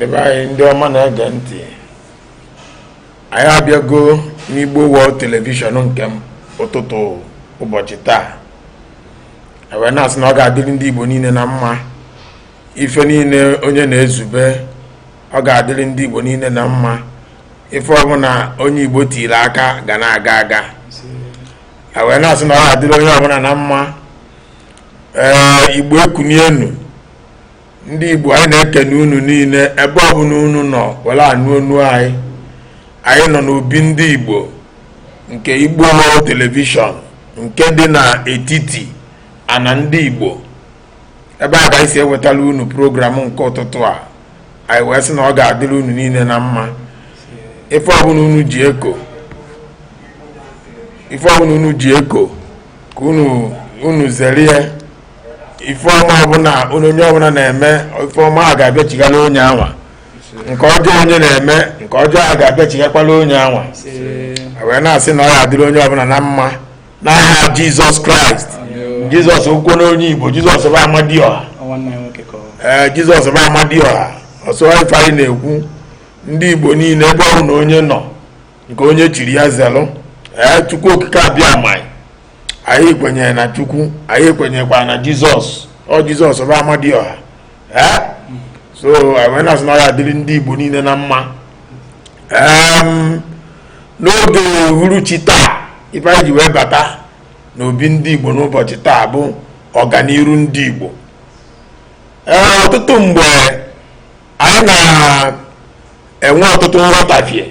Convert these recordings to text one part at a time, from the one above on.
ndị be anyị ndị ọma na-ege ntị anyị abịago n'igbo wọl telivishọn nke m ụtụtụ ụbọchị taa wee na-asị na ọ ga-adịrị ndị igbo niile na mma ife niile onye na-ezube ọ ga-adịrị ndị Igbo niile na mma ife ọbụla onye Igbo tiri aka ga na-aga aga wee na-asị na ọ ga-adịrị onye ọbụla na mma ee Igbo ekunienu ndị Igbo anyị na-ekene unu niile ebe ọbụla unu nọ were anụ onu anyị anyị nọ n'obi ndị Igbo nke Igbo wọl telivishọn nke dị n'etiti ana ndị Igbo ebe a ka anyị si ewetala unu program nke ụtụtụ a anyị wee sị na ọ ga-adịrị unu niile na mma ife ọbụla unu ji eko unu zere ya ife ọma ọbụla onye ọbụla na-eme ife ọma a ga-abịachigala onye anwa nke ọjọọ onye na-eme nke ọjọọ a ga-abịachighakwala onye anwa wee na-asị na ọ ga-adịrị onye ọbụla na mma n'aha jizọs kraịst jizọs ọ bụkwanụ onye igbo jizọs bụ amadioha ee jizọs bụ amadioha ọ sọ ife anyị na-ekwu ndị igbo niile ebe ọbụna onye nọ nke onye chiri ya zelụ ee chukwu okike abịama anyị kwenyere na chukwu anyị kwenyekwara na jizọs ọ jizọs bụ amadioha ee so wee na-asị na ọ ya-adịrị ndị igbo niile na mma n'oge uhuruchi taa ife anyị ji wee bata n'obi ndị igbo n'ụbọchị taa bụ ọganiru ndị igbo ee ọtụtụ mgbe anyị na-enwe ọtụtụ nghọtafie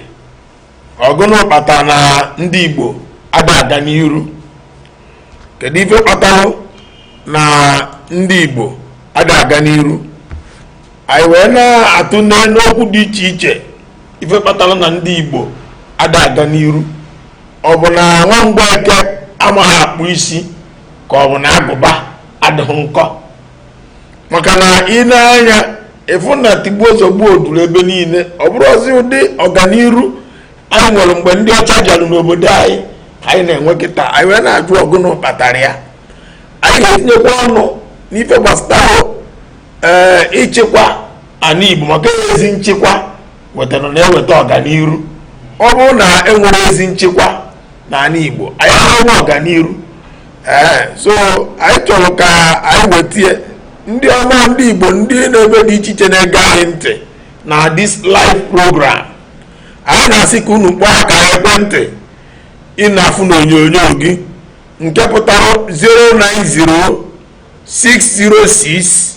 ọ gụnụ kpata na ndị igbo ada aga n'iru kedu ife kpatara na ndị igbo ada aga n'iru anyị wee na-atụne okwu dị iche iche ife kpatara na ndị igbo ada aga n'iru ọ bụ na nwa mgbeke amaghị akpụ isi ka ọ bụ na agụba adịghị nkọ maka na i nee anya ị fụ na tigbuo zọgbuo juru ebe niile ọ bụrọzi ụdị ọganiru anyị nwere mgbe ndị ọcha bịara n'obodo anyị ka anyị na-enwe kịta anyị wee na-ajụ ọ gụnụ kpatara ya anyị ga-etinyekwa ọnụ n'ife gbasara ee eh, ịchịkwa ana Igbo maka ezi nchịkwa wetara na-eweta ọganiru ọ bụrụ na enwere ezi nchekwa n'ala Igbo anyị enwee ọganiru ee so anyị chọrọ ka anyị wetie ndị ọma ndị Igbo ndị n'ebe dị iche iche na-ege anyị ntị na this live program anyị na-asị ka unu kpọọ aka ekwentị ị na-afụ n'onyonyo gị nke pụtara 090 606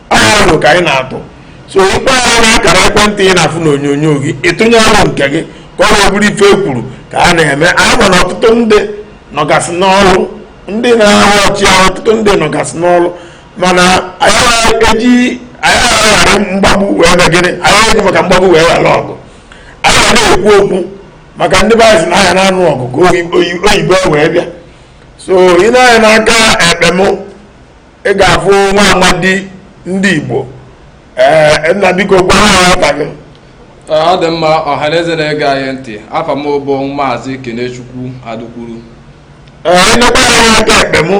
arọ ka anyị na-atụ so ị kpọọ ya na akara ekwentị ị na-afụ n'onyonyo gị ị tụnye arọ nke gị ka ọ bụrụ ife e kwuru ka a na-eme anyị ma na ọtụtụ ndị nọgasị n'ọrụ ndị na-ahụ ọchị ahụ ọtụtụ ndị nọgasị n'ọrụ mana anyị eji anyị aghara mgbagbu wee na gịnị anyị eji maka mgbagbu wee ghara ọgụ anyị ga na-ekwu okwu maka ndị be anyị sị na anyị na-anụ ọgụ ka oyibo wee bịa so i nee anya n'aka ekpe mụ ị ga-afụ nwa amadi ndị Igbo ee nna biko gwa ha afa gị ọ dị mma ọhaneze na-ege anyị ntị afa m bụ maazị Kenechukwu Adukwuru ee nekwaa anya aka ekpe m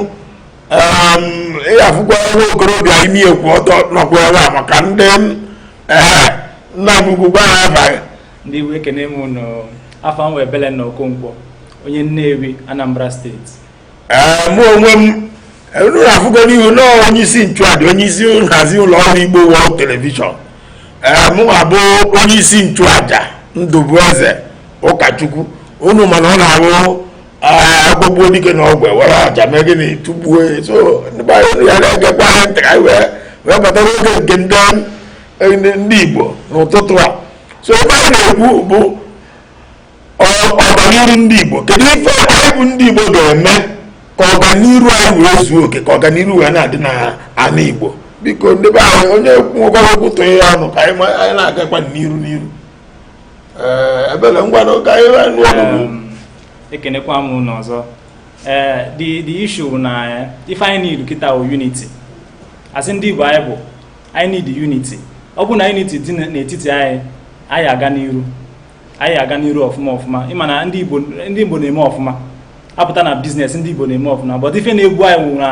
ị ga-afụkwa nwa okorobịa imi ya kwụ ọtọ nọkwa ebe a maka ndị ee nna m ukwu gwa ha afa gị ndị Igbo ekene m unu afa m wụ Ebelenna Okonkwo onye Nnewi Anambra state mụ onwe m unu afụgo n'ihu na onye isi nchụaja onye isi nhazi ụlọ ọrụ Igbo World Television mụ abụ onye isi nchụaja Ndụbueze Ụkachukwu unu ma na ọ na-arụ agbagbuo dike n'ọgụ e were aja mee gịnị tụgbuo so ndị be anyị ya na-egekwa anyị ntị ka anyị wee wee bata n'oge nke ndị ndị Igbo n'ụtụtụ a so ife a na-ekwu bụ ọganiru ndị Igbo kedu ife anyị bụ ndị Igbo ga-eme ka ọganiru anyị wee zuo oke ka ọganiru wee na-adị n'ana Igbo biko ndị be anyị onye nwekwara okwu tụọ ya ọnụ ka anyị na-agakwa n'iru n'iru ebele ngwa na oge anyị ekenekwa m unu ọzọ ee the the issue now eh, ife anyị need kịta wụ unity as ndị Igbo anyị bụ anyị need unity ọ bụ na unity dị n'etiti anyị anyị aga n'iru anyị aga n'iru ọfụma ọfụma ị ma na ndị Igbo ndị Igbo na-eme ọfụma apụta na business ndị Igbo na-eme ọfụma but ife na-egbu anyị wụ na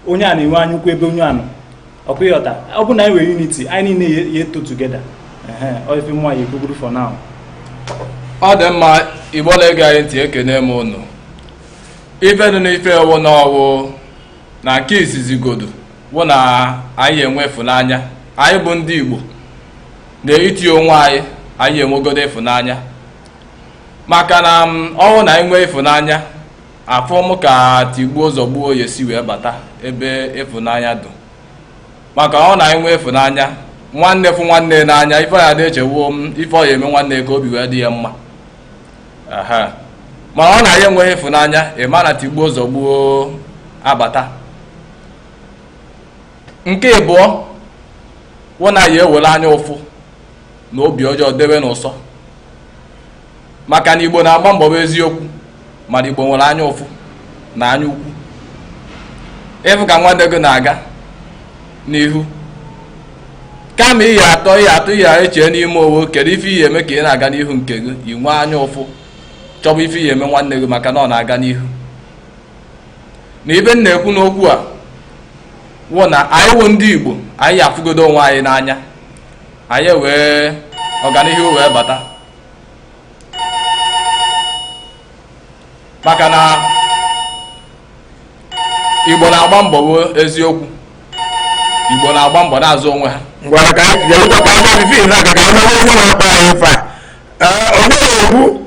onye a na-enwe anya ukwu ebe onye a nọ ọ kwa ị ghọta ọ bụ na anyị nwere unity anyị niile ya-eto together ife mụwa ya-ekwuburu for now ọ dị mma igbo na-ege anyị ntị ekene m unu ife dị n'ife a wụ na ọ wụ na nke izizi godu wụ na anyị enwe ịfụnanya anyị bụ ndị igbo n'etiti onwe anyị anyị enwegodo ịfụnanya maka na ọ wụ na anyị nwee ịfụnanya afụ m ka tigbuo zọgbuo ya esi wee bata ebe ịfụnanya dụ maka na ọ wụ na anyị nwee ịfụnanya nwanne fụ nwanne n'anya ife ọ ya na-eche wụ ife ọ ya eme nwanne ka obi wee dị ya mma mana ọ wụ na anyị enweghị ịfụnanya ị ma na tigbuo zọgbuo abata nke ịbụọ wụ na anyị ewere anya ụfụ na obi ọjọọ debe n'ụsọ maka na igbo na-agba mbọ bụ eziokwu mana igbo nwere anya ụfụ na anya ukwu ị fụ ka nwanne gị na-aga n'ihu kama ị ya atọ ị ya atọ ị ya eche n'ime onwe kedu ife ị ya eme ka ị na-aga n'ihu nke gị ị nwee anya ụfụ chọba ife ị ya eme nwanne gị maka na ọ na-aga n'ihu na ife m na-ekwu n'okwu a wụ na anyị wụ ndị Igbo anyị afụgodo onwe anyị n'anya anyị enwee ọganihu wee bata maka na Igbo na-agba mbọ bụ eziokwu Igbo na-agba mbọ na-azụ onwe ha ngwa ka anyị ga-ebutakwa anya n'ife na-aga ka anyị mara onye na-akpa anyị ife a Ee, o nweghị okwu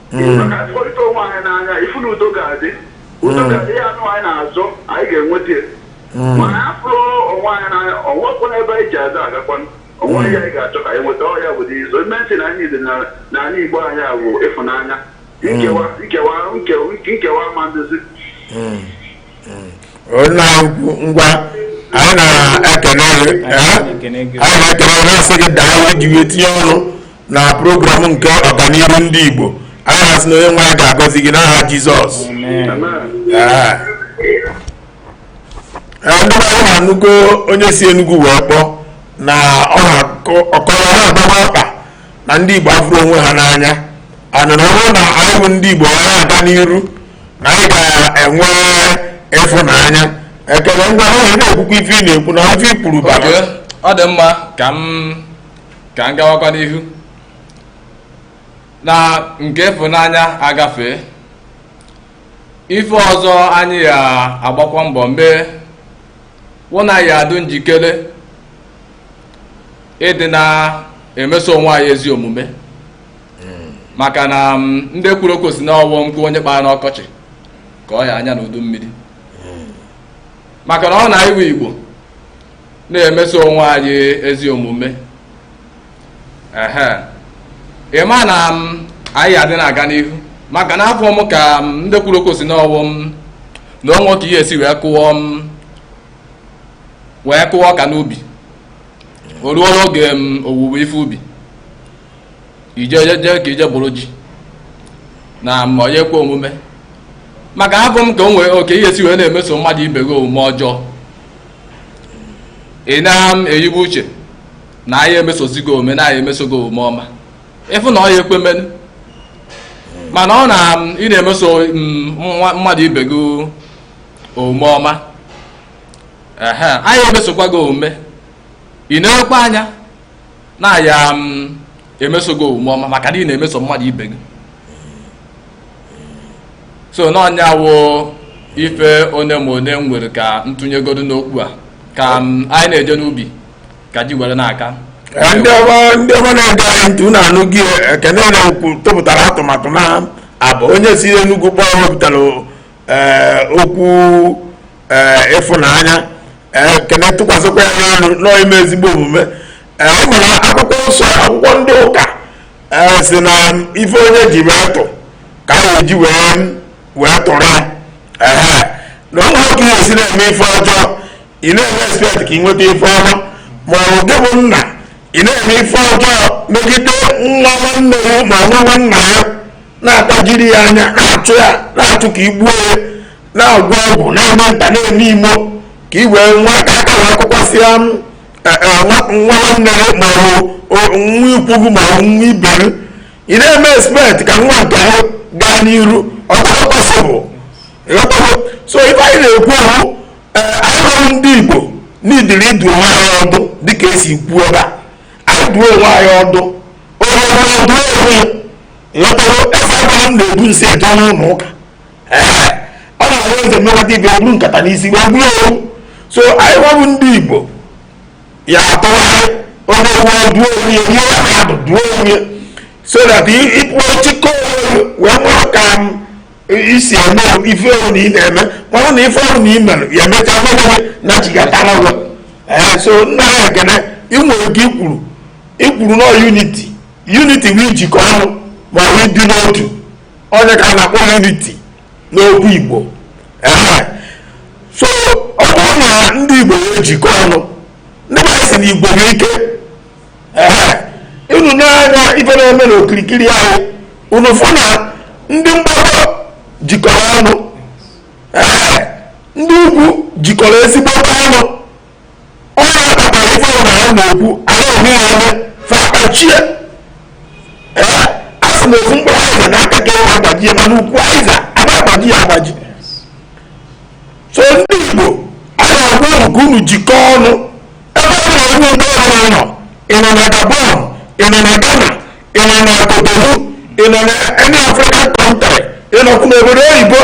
Igbo ka anyị hụrịta onwe anyị n'anya ị fụ na udo ga-adị udo ga-adị ya anụ anyị na-azọ anyị ga-enweta ya ma anyị afụrọ onwe anyị n'anya o nwekwana ebe anyị ji azụ agakwana onwe anyị anyị ga-achọ ka anyị nweta ya bụ izo ime ntị na anyị dị na- na anyị igbo anyị a bụ ịfụnanya nkewa nkewa nkewa nkewa ma nduzi onye ukwu ngwa anyị na-ekene gị eh? anyị na-ekene gị na-asị gị daalụ i ji wee tinye ọnụ na program nke ọganihu ndị igbo anyị na-asị na onye nwe anyị ga-agọzi gị n'aha jizọs Eh. Eh, ndị be anyị unu anụgo onye si enugwu wee kpọọ na ọ na-akọ ọkọrọ na agbarọ aka na ndị Igbo afụrọ onwe ha n'anya ana na ọ bụrụ na anyị bụ ndị Igbo anyị aga n'iru na anyị ga-enwe ịfụnanya ekele ngwa na-ekwukwa ife ị na-ekwu na ife i kwuru bara ọ dị mma ka m ka m gawakwa n'ihu na nke ịfụnanya agafee ife ọzọ anyị ya agbakwa mbọ mee wụ na anyị adụ njikere ịdị na-emeso onwe anyị ezi omume maka na mm, ndị kwuru okwu sị na ọ wụ nkụ onye kpara n'ọkọchị ka ọ ya anya n'udu mmiri maka na ọ wụ na anyị wụ igbo na-emeso onwe anyị ezi omume ehe ị ma na mm, anyị adị na-aga n'ihu maka na afụ m ka mm, ndị kwuru okwu sị na ọ wụ mm na o nwe ka ihe esi wee kụọ m wee kụọ ọka n'ubi o ruo n'oge owuwe ife ubi i je jee ka i je buru ji na ma onye kwe omume maka hapụ m ka o nwee oke ihe si wee na-emeso mmadụ ibe gị omume ọjọọ ị na-eyibu uche na a ya-emesozi gị omume na a ya-emeso gị omume ọma ịfụ na ọ ya ekwe menu mana ọ na ị na-emeso mmadụ ibe gị omume ọma ehe a ya-emesokwa gị omume ị na-ekwe anya na a ya mm, emeso gị omume ọma maka na ị na-emeso mmadụ ibe gị so na ọ nya wụ ife onye ma onye m nwere ka m tụnyegodu n'okwu a ka mm, anyị na-eje n'ubi ka ji were na-aka Eh, ndị ọma ndị ọma na-ege anyị ntị unu anụgo Ekene na-ekwu tụpụtara atụmatụ na abụ onye si Enugu kpọọ wepụtara ee okwu ee ịfụnanya ee Ekene tụkwasịkwa ya ọnụ n'ime ezigbo omume ee ọ mara akwụkwọ nsọ akwụkwọ ndị ụka ee sị na ife onye ji wee tụọ ka a ya-eji wee wee tụrụ ya ee na o nwerọ ka ị ya-esi na-eme ife ọjọọ ị na-eme expect ka ị nweta ife ọma ma ọ bụ gị bụ nna ị na-eme ife ọjọọ megide nwa nwanne ya ma nwa nwanna ya na-atajiri ya anya na-achụ ya na-achụ ka i gbuo ya na-agwọ ọgwụ na-eme nta na-eme imo ka i wee nwa aka aka na akwụkwọ si ya m, eh, eh, nwa nwa nwanne ya ma ọ bụ o- nwa ikwu gị ma ọ bụ nwa ibe gị ị na-eme expect ka nwa nke ahụ gaa n'iru ọ gaghị possible ịghọtago so ife anyị na-ekwu bụ ee anyị wụrụ ndị igbo needịrị ịdụ onwe anyị ọdụ dịka e si kwuo ebe a anyị dụọ onwe anyị ọdụ onye ọbụla dụọ onwe ya ịghọtago eze agbanụ na-ebu nsị eje n'ụlọ ụka ee ọ na-ahụ eze mmekọta ibe buru nkata n'isi wee buru owu so anyị wụrụ ndị igbo ya atụgharị onye ọbụla dụọ onwe ya ihe ya na-adụ dụọ onwe ya so that ịpụọ chịkọ onwe ya wee nwee ka m i si eme ife ọbụna ị na-eme mara na ife ọbụna ị mere ya emechaa mmewe na chigatara ụwa ee so nna anyị Ekene ị nwere ife i kwuru i kwuru na unity unity bụ ijikọ ọnụ ma ọ bụ ịdị n'otu ọ nya ka a na-akpọ unity n'okwu igbo ee so ọ bụrụ na ndị igbo wee jikọ ọnụ ndị be anyị sị na igwe bụ ike unu nee anya ife na-eme n'okirikiri anyị unu fụ na ndị mgbakọ jikọrọ ọnụ ndị ugwu jikọrọ ezigbo ọnụ ọ ya kpatara ife ọbụla ha na-ekwu anyị onwe ya eme fa kpachie a sị na ofu mkpụrụ aịza na aka ka e wee agbajie mana ukwu aịza a na-agbaji ya agbaji so ndị igbo a na-agwa unu ka unu jikọọ ọnụ ebe ọ bụla onye igbo ọbụla nọ ị nọ na gabon ị nọ na ghana ị nọ na kotonu ị nọ na any african country ị nọkwu n'obodo oyibo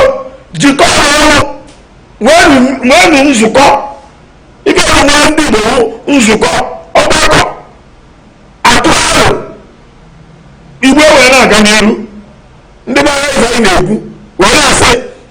jikọọ ọnụ nweenụ nzukọ ibe ha nwere ndị igbo nzukọ ọgbakọ atụọ arọ igbo wee na-aga n'iru ndị be anyị na-ekwu wee na-asị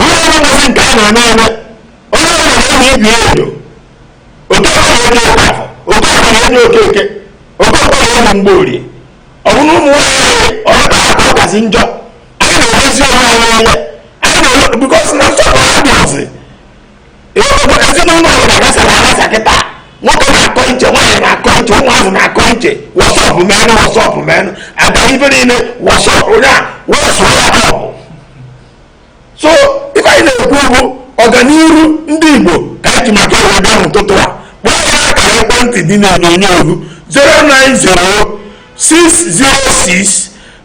onye ọrụ ngozi nke a na-eme eme onye na-enyo ibe ya enyo okorie na-enyo okafọ okafọ na-enyo okeke okonkwọ na-enyo mgborie ọ bụ na ụmụ nwaanyị ọ nke a ka kasị njọ anyị na-emezi onwe anyị anya anyị na-eme because na nsọpụrụ adịghịzi ezinụlọ ọbụla gbasara agbasa kịta nwoke na-akọ iche nwaanyị na-akọ iche ụmụazị na-akọ iche wọsọpụ menụ wọsọpụ menụ agba ibe niile wọsọpụ ya wọsọ ya ọbụ so ife anyị na-ekwu bụ ọganihu ndị igbo ka anyị ji maka ọrụ ebe ahụ ụtụtụ a kpọọ ya akara ekwentị dị n'onyonyo 090 606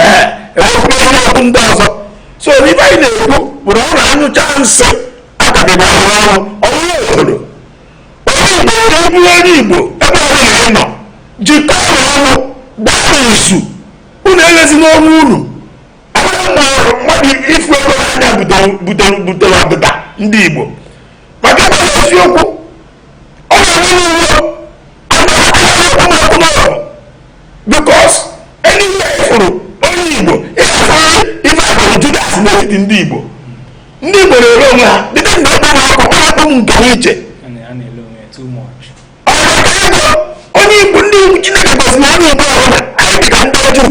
eeeakwụkwọ ndị ọzọ so ife anyị na-ekwu bụrụ ọ na-anyụcha nsị akabịba arụ ọrụ ọrụ obodo onye ọbụla bụ onye igbo ebe ọ bụla ị nọ jikọọ ọnụ gbaa izu unu erezina onwe unu mmadụ ịfụ ego n'anya butere ọdịda ndị igbo maka na eziokwu because anywhere ị fụrụ onye igbo ịhụrụ ife bụ judas n'etiti ndị igbo ndị igbo na-ere onwe ha dịka ndị ọkpa na akụkọ akpụ m nke iche onye igbo ndị igbo chineke gọziri onye igbo ọbụla anyị dịka ndị juu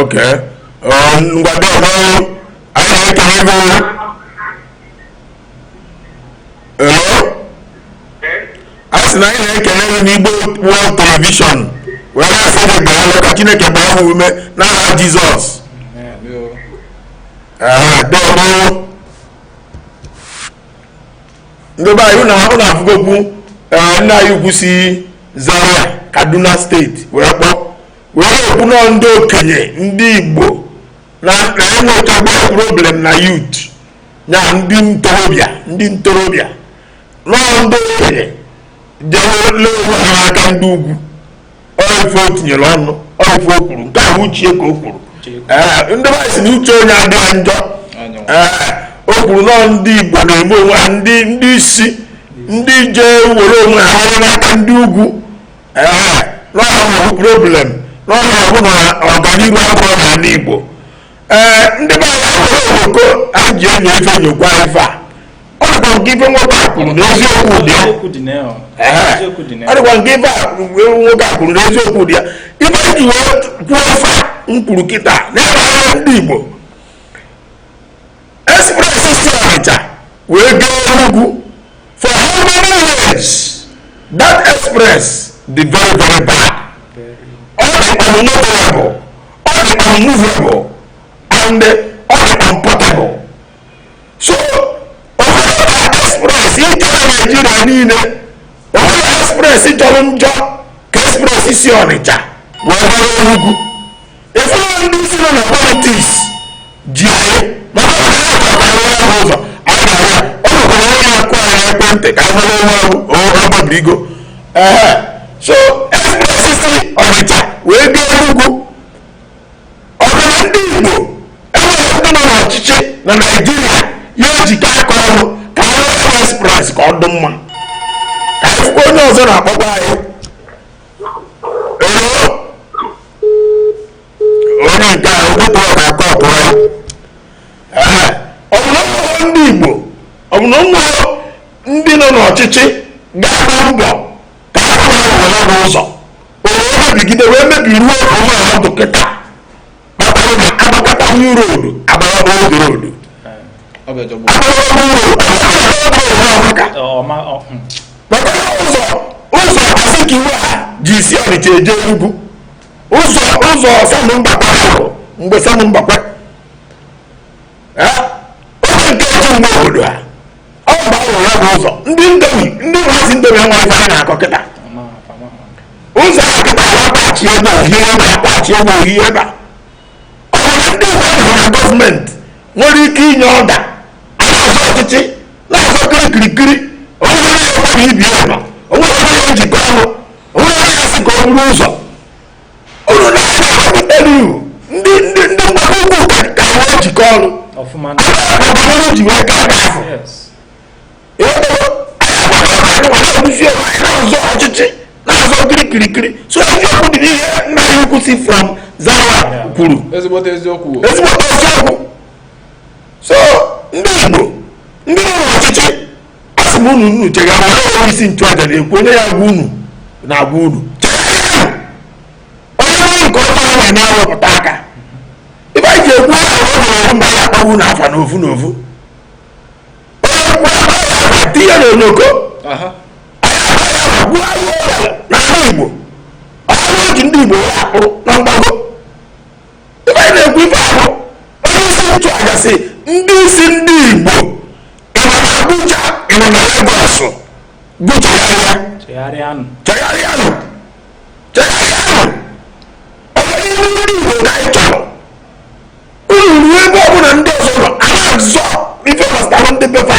ok mgbado ọhụrụ anyị na-ekele gị o hello a sị na anyị na-ekele gị o n'igbo world television wee na-asị gị daalụ ka chineke gbaa ha ume n'aha jizọs Amen. Ee, dọọrọ ndị be anyị unu afụgokwu eh, nna anyị ukwu si Zaria Kaduna state wee kpọọ wee na-ekwu na ndị okenye ndị Igbo na enwetagba problem na youth na ndị ntorobịa ndị ntorobịa na ndị okenye jee ree onwe ha n'aka ndị ugwu ife o tinyere ọnụ ife o kwuru nke a bụ uche ya ka o kwuru ndị mmadụ sị na uche onye adịghị ya njọ o kwuru na ndị Igbo na-eme onwe ha ndị ndị isi ndị jee were onwe ha ree n'aka ndị ugwu na ọ ha bụ problem na ọ ya bụ na ọganihu abịarọ n'ala Igbo ee ndị be anyị ahụrụ oko anyị ji enyo ife nyokwa ife a ọ dịkwa nke ife nwoke a kwuru na eziokwu dị ya Eziokwu dị na ya. Ehe. Eziokwu dị na ya. ọ dịkwa nke ife a kwuru- nwoke a kwuru na eziokwu dị ya ife anyị ji wee kwuo ife a m kwuru kịta na-ere ndị igbo express si Ọnịcha wee gaa Enugu for how many years that express dị very very bad ọ dị unmovable ọ dị unmovable and ọ dị unportable so o nwerọ express ị chọọ Naijiria niile o nwerọ express jọrọ njọ ka express si Ọnịcha wee gaa Enugu ife ndị isi nọ na politics ji anyị maka na ha ga-akwara ya bụ ụzọ anyị gara ya o nwekwara onye na-akpọ anyị n'ekwentị ka anyị mara onye ọ bụ o ọ gbabirigo ehe so express si ọnịcha wee gaa enugwu ọ bụ na ndị igbo enwerọ ndị nọ n'ọchịchị na naijiria ga-ejikọ aka ọnụ ka anyị nwee express ka ọ dị mma ka anyị fụkwa onye ọzọ na-akpọkwa anyị onye nke a ụtụtụ ọ na-akọ ọtụ ya ọ bụ na o nwerọ ndị Igbo ọ bụ na o nwerọ ndị nọ n'ọchịchị ga-agba mbọ ka ha rụọ ụzọ o wee mebigide wee mebiruo ebe ọ dị kịta kpatara na agbakata new road agbakata old road maka ụzọ ụzọ a sị ka iwe ha ji esi ọnịcha eje enugwu ụzọ ụzọ Sam Mbakwe ahụ mgbe Sam Mbakwe onye nke otu mgbe obodo a ọ bụ a rụrụ ya bụ ụzọ ndị ndomi ndị mmasị ndomi enweghị ife a na-akọ kịta ụzọ a kịta na-akpachi ebe ohi ebe akpachi ebe ohi ebe a ọ bụ ndị mmadụ na government nwere ike inye order a na-azọ ọchịchị na-azọ kirikirikiri onye na-ekwe ibi ọba o nwerọ njikọ ọnụ o nwerọ onye sị ka a rụọ ụzọ unu na-emebiteriu ndị ndị ndị mgbago ugwu ka ha ejikọ ọnụ ọfụma na ọbụrụ ji wee gaa aka ahụ yes edozie na-azọ ọchịchị na-azọ kiri kirikiri so eziokwu dị n'ihe nna ya ukwu si from zaria kwuru ezigbote eziokwu o. ezigbo eziokwu so ndị igbo ndị nọ n'ọchịchị a sị m unu unu chegharịa onye isi nchụaja na-ekwu onye ya gwa unu na-agwa unu onye ọrụ nke ọma ahụ na-ewepụta aka ife anyị ji ekwu aha ọ hụrụ mba ya akpọba unu afa n'ofu n'ofu onye kwuo aha ya na tinye na oloko aha gbuo agụ ọbịa n'ala igbo ọrụ oji ndị igbo ya akpụrụ na mgbago ife anyị na-ekwu ife ahụ onye isi nchụaja sị ndị isi ndị igbo ị nọ na abuja ị nọ na lagos unu chegharịa chegharịanụ chegharịanụ chegharịanụ ọganihu ndị igbo ka anyị chọrọ unu ruo ebe ọbụla ndị ọzọ nọ a na-azọ ife gbasara ndị be fa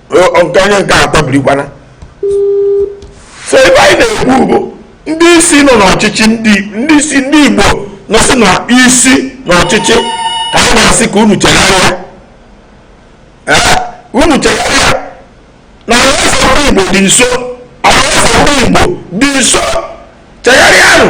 nke onye nke atọ birikwana so ife anyị na-ekwu bụ ndị isi nọ n'ọchịchị ndị isi ndị igbo nọsị na isi n'ọchịchị ka a na-asị ka unu chegharịa unu chegharịa na alaeze igbo dị nso alaeze igbo dị nso chegharịanụ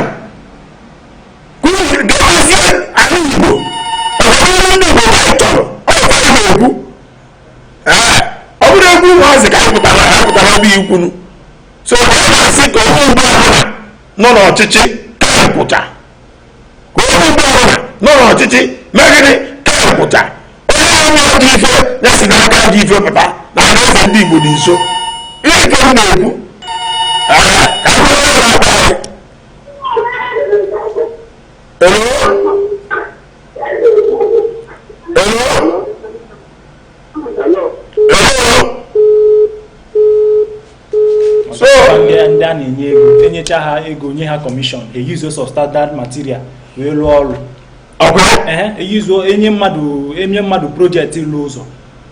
ọ bụrọ egwu ụmụazị ka a pụtara ha pụtara bụ ikwunu so ha na-asị ka onye igbo ọbụla nọ n'ọchịchị kapụta ka onye igbo ọbụla nọ n'ọchịchị mee gịnị kapụta onye nọ n'ajọ ife ya si n'ajọ ife pụta na anaeze ndị igbo dị nso ihe nke m na-ekwu Hello? so ndị a na-enye ego enyecha ha ego nye ha commission e use-uo substandard material wee lụọ ọrụ eyuzo enye mmadụ enye mmadụ project ịlụ ụzọ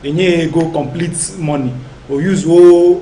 enye ya ego complete money o use-uo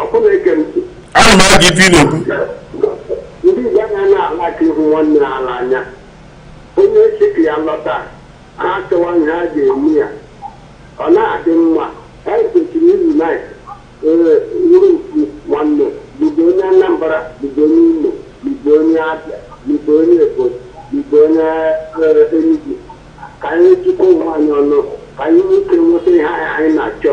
Okay ị na-ege m ntị. ana m ege ife ị na-ekwu Ndị Igbo anaghị na-ala ka ịhụ nwanne ha n'anya. Onye si ka ya lọta, ha achọwa ihe ha ga-eme ya. Ọ na-adị mma. Anyị kwesịrị izu na ee wụrụ ofu nwanne ma ị bụ onye Anambra ma ị bụ onye Imo ma ị bụ onye Abịa ma ị bụ onye Ebonyi ma ị bụ onye eh, Enugu ka anyị jikọọ onwe anyị ọnụ ka anyị nwee ike nweta ihe anyị anyị na-achọ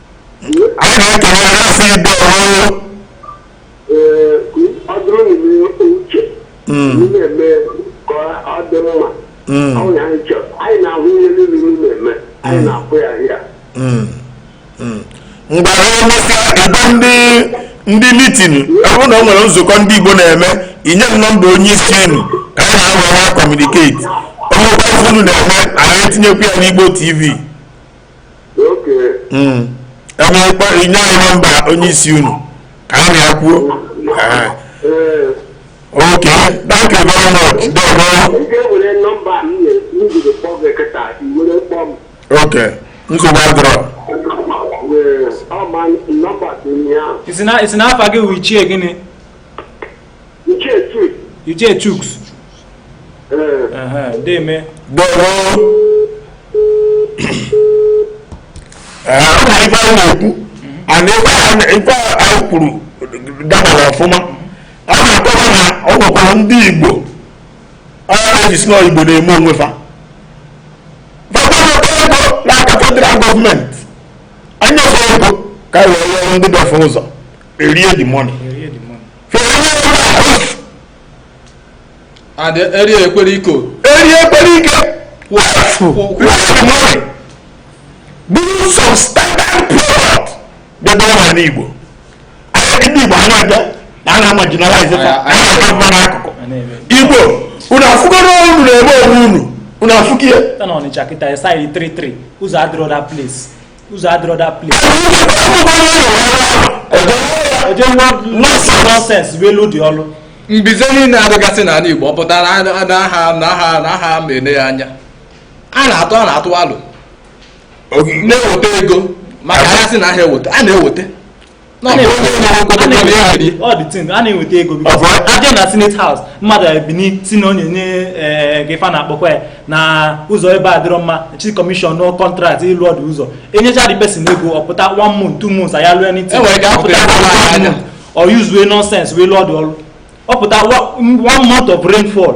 anyị na-ekele ya asị ibe ọrụ ee ọ bụrụ na ime uche ị na-eme ka ọ dị mma ọ bụ na anyị chọrọ anyị na-ahụ ihe niile ị na-eme anyị na-akwụ ya ahịa ngwa ha emesịa ebe ndị ndị meeting ọ bụrụ na o nwere nzukọ ndị igbo na-eme i nye m nọmba onye isi unu ka anyị na ya na-communicate o nwee occasion unu na-eme anyị etinyekwu ya n'igbo tv Hmm. ebe ịkpọ i nye anyị nọmba onye isi unu ka anyị na ya kwuo ok thank you very much odogwu ok nsogbu adịrọ ị sị na afa gị wụ ichie gịnị Uche Chuk. Uche Chuks. Ee. Deme. Deme. Ọ na ife a na-ekwu and ife a kwuru dabara ọfụma a na-akọwa na ọ nwekwara ndị Igbo ka e ji sị na Igbo na-eme onwe fa fa ga-ana oke ego n'aka federal government enye fa ego ka e wee rụọ ndị be fa ụzọ erie the money and eri ekwere iko eri ekwere ike buru substandard product bịa dọba n'igbo ahịa ndị igbo anya abịa na ana ama generalize fa ana ama n'akụkọ igbo unu afụkwarọ unu na-eme onwe unu unu afụkwa ọnịcha kịta three three ụzọ adịrọ that place ụzọ adịrọ that place eje nonsense bụ elu dị ọlụ mbize niine a dịgasị n'anị igbo ọ pụta na aha na aha na aha ma ele ya anya a na-atụ a na-atụ alo na-eweta ego maka ada asị na aha eweta a na-eweta a na-enweta ego a bịa na senate house mmadụ ebinie sị na onye nye eh, gị fa na-akpọkwa ya na ụzọ ebe a adịrọ mma chi commission contract ịlụ the ụzọ enyecha the person ego ọ pụta one month two months aya lụọ anything o use nonsense wee lụọ the ọrụ ọ pụta one month of rainfall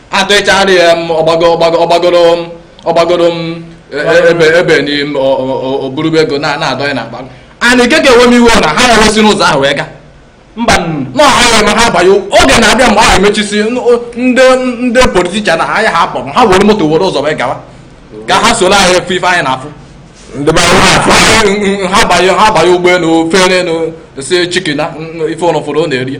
adịchara ya m ọgbago ọgbago ọgbagoro m ọgbagoro m e- e- ebe ebe n'ime ọ- ọ- ọ- o buru bụ ego na- na-adọnye n'akpa and nke ka ewe m iwe na ha ya wesi n'ụzọ ahụ wee ga mba nụ na ọha ya ma ha abanye oge na-abịa mgbe ahụ emechisi n- o- ndị ndị politician na ha ya ha kpọrọ ha were moto were ụzọ wee gawa ka ha soro anyị afụ ife anyị na-afụ ndị be anyị na-afụ ha banye ha banye ụgbọ enu fere enu sị chikina ife unu fụrụ unu erie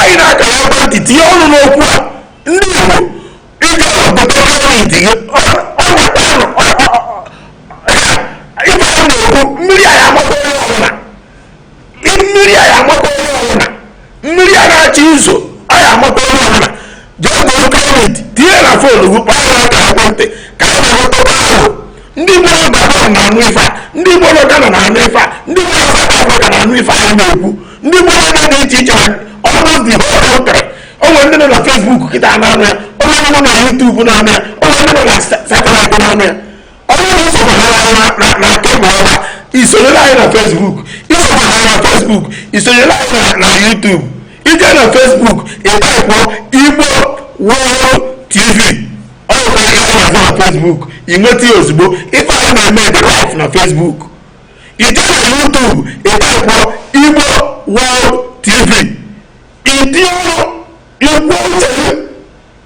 anyị na-aka ya gwa ntị tinye ọnụ n'okwu a ndị Igbo ịga obodo gọọmenti gị ịgba ya na-ekwu mmiri a ya amakwa onye ọbụla mmiri a ya amakwa onye ọbụla mmiri a na-achọ izo a ya amakwa onye ọbụla jee goro credit tinye na phone gị kpọọ ya ka ekwentị ka a na-ahụtaba ahụ ndị Igbo nọ Gabon na-anụ ife a ndị Igbo nọ Ghana na-anụ ife a ndị Igbo nọ South Africa na-anụ ife a na-ekwu ndị Igbo nọ n'ebe dị iche iche ọrụ dị họtara o nwe ndị nọ na Facebook kịta na-anụ ya o nwe ndị nọ na YouTube na-anụ ya o nwe ndị nọ na satellite na-anụ ya i sonyere anyị na Facebook i sonyere anyị na Facebook i sonyere anyị na YouTube i jee na Facebook ị type Igbo World TV ọ bụrụ na ị na-azụ na Facebook ị nweta ya ozugbo ife anyị na-eme ebe a live na Facebook i jee na YouTube ị type Igbo World TV ịdị ọrụ ikwu uche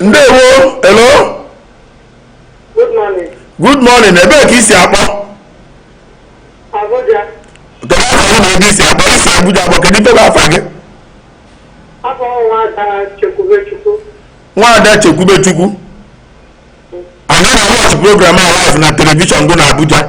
ndewo hello good morning ebee ka i si akpọ Abuja. kedu afa gị na ebe i si akpọ i si Abuja akpọ kedu ife bụ afa gị Afa m nwaada Chekwube Chukwu. nwaada Chekwube Chukwu ị na-awatch program a live na television gị na Abuja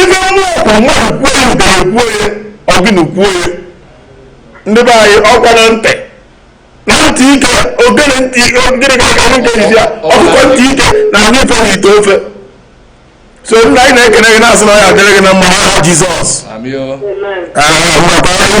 ibe mmụọ bụ mmadụ kwuo ya udara kwuo ya ogene kwuo ya ndị be anyị ọkwa na ntị na ntị ike ogene ntị ogene ka ka nwoke ji ya ọkụkọ ntị ike na-anụ ife n'ite ofe so nna anyị na-ekene gị na-asị na ọ ya-adịrị gị na mma n'aha Jizọs Amị o. Amen. ahụ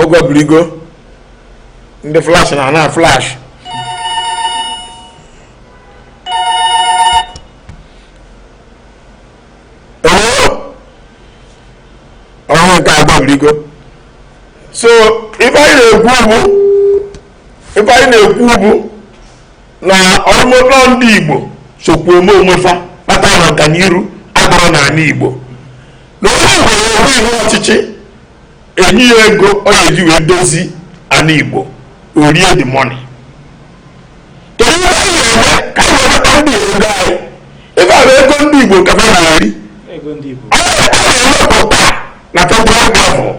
ọgwa birigo ndị flash na ana flash ọhụrụ nke agwa birigo so ife anyị na-ekwu bụ ife anyị na-ekwu bụ na ọrụmụlọ ndị igbo sokwa eme onwe fa kpata na ọganiru adịrọ n'ala igbo na onye nwere onwe ihu ọchịchị e nye ya ego ọ ga-eji wee dozi ala igbo o rie the money kedu ihe anyị na-eme ka anyị weta ndị ego anyị ife a bụ ego ndị igbo ka ha na-eri a na-ewepụta na federal gọọmenti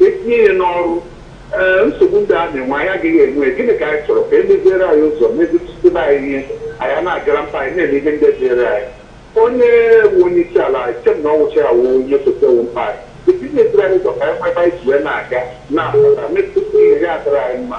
e tinye ya n'ọrụ ee nsogbu ndị a na-enwe anyị agaghị enwe gịnị ka anyị chọrọ ka e meziere anyị ụzọ mezitụtụba anyị ihe anyị ana-agara mkpa anyị na-eme ihe ndị dịịrị anyị onye wu onye isi ala echem na ọ wụcha ya wu ihe sote wu mkpa anyị e tinye e meziere anyị ụzọ ka anyị nwee ebe anyị ji wee na-aga na-akpata mezitụta ihe ya adịrị anyị mma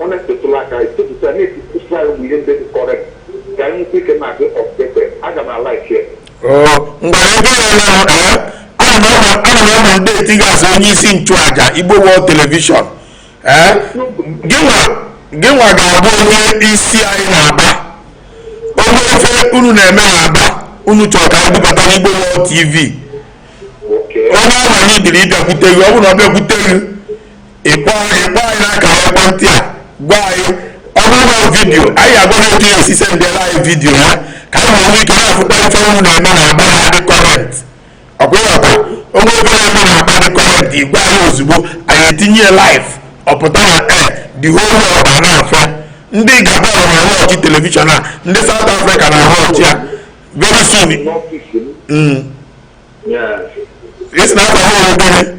Ọ na-esetụla aka anyị setụta ya na-ekwusa anyị ụmụ ihe ndị dị current ka anyị nwekwa ike na-adị updated. Aga m alaiki ya. Oo, ngwa ebe ya na ee ana m ama ana m anominate gị as onye isi nchụaja Igbo World Television ee gịnwa gịnwa ga-abụ onye isi anyị n'Aba o nwee ife unu na-eme n'Aba unu chọrọ ka anyị bubata n'Igbo World TV Okay. onye ahụ anyị dịrị ịbịakwute gị ọ bụrụ na ọ bịakwute gị ị kpọọ anyị n'akara ekwentị a gwa anyị ọ bụrụ na video anyị agwa gị otu e si sendịara anyị video ya ka anyị nwere ike na-afụta ife unu na-eme n'Aba dị current ọ kwa ị ghọta o nwee ife na-eme n'Aba dị current ị gwa anyị ozugbo anyị etinye live ọ pụta na ee the whole ụwa na-afụ ya ndị Gabon na-awatch television a ndị South Africa na-awatch ya very soon. Mm. Yes. It's not a whole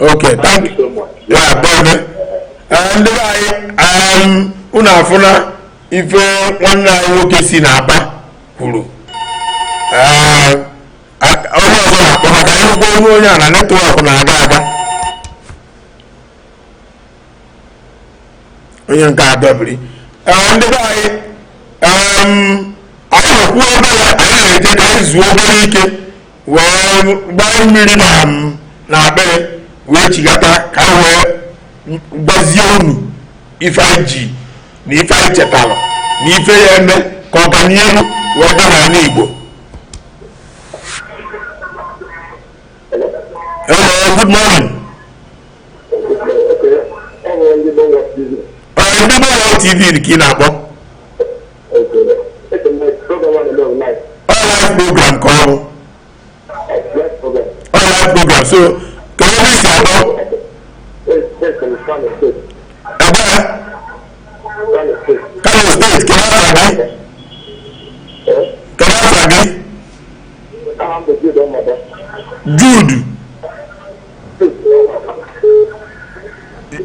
Okay, thank you. so much. Yeah bye bye. Eh, Ndị be anyị um, unu afụna ife nwanne anyị nwoke si n'Aba kwuru. Eh, a- Onye ọzọ na-akpọ maka akwụkwọ onye onye a na network na-aga aga. Onye nke a dọbiri. Eh, Ndị be anyị um, anyị na-ekwu obere anyị na-eje ka anyị zuo obere ike. wee gbaa mmiri na n'akpịrị wee chighata ka m wee gwazie unu ife anyị ji na ife anyị chetara na ife a ya-eme ka ọganihu wee gaa n'ala Igbo Hello, good morning. Ọ ndị Igbo World TV ka ị na-akpọ? ọ live program ka ọ bụ ọ live program so kee ebe i si akpọ ebe a Kano State kee afa gị kee afa gị Jude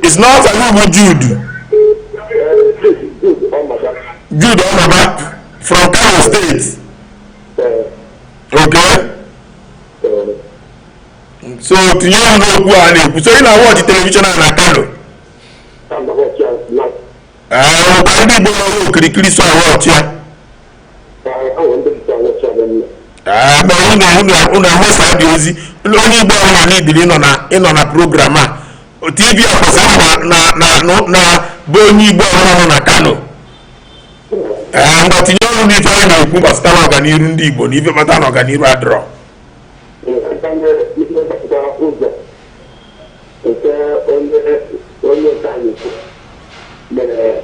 I sị na afa gị bụ Jude. Jude Omaba from Kano State. Okay. So tinye ọnụ n'okwu a na-ekwu so ị na-awatch television a na Kano. Ee, ndị Igbo nọ n'okirikiri so awatch ya. unu ahụsa dị ozi onye igbo ọbụna idiri ịnọ na program a tv ọkpọsa na bụ onye igbo ọbụna nọ na kano ee mgbe tinye ọnụ n'ife anyị na-ekwu gbasata na ọganiru ndị igbo na ife mata na ọganiru adịrọ onye onye nke anyị mere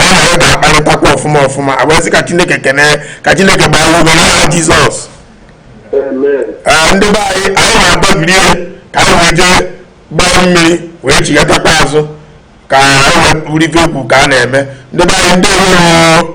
anyị na ya ga-akparịtakwa ọfụma ọfụma agbazi ka chineke kene ka chineke gbaa ume n'aha jizọs ee ndị be anyị anyị ga-aga break ka anyị wee jee gbaa mmiri wee chighatakwa azụ ka anyị wee buru ife okwu ka a na-eme ndị be anyị ndị ọhụrụ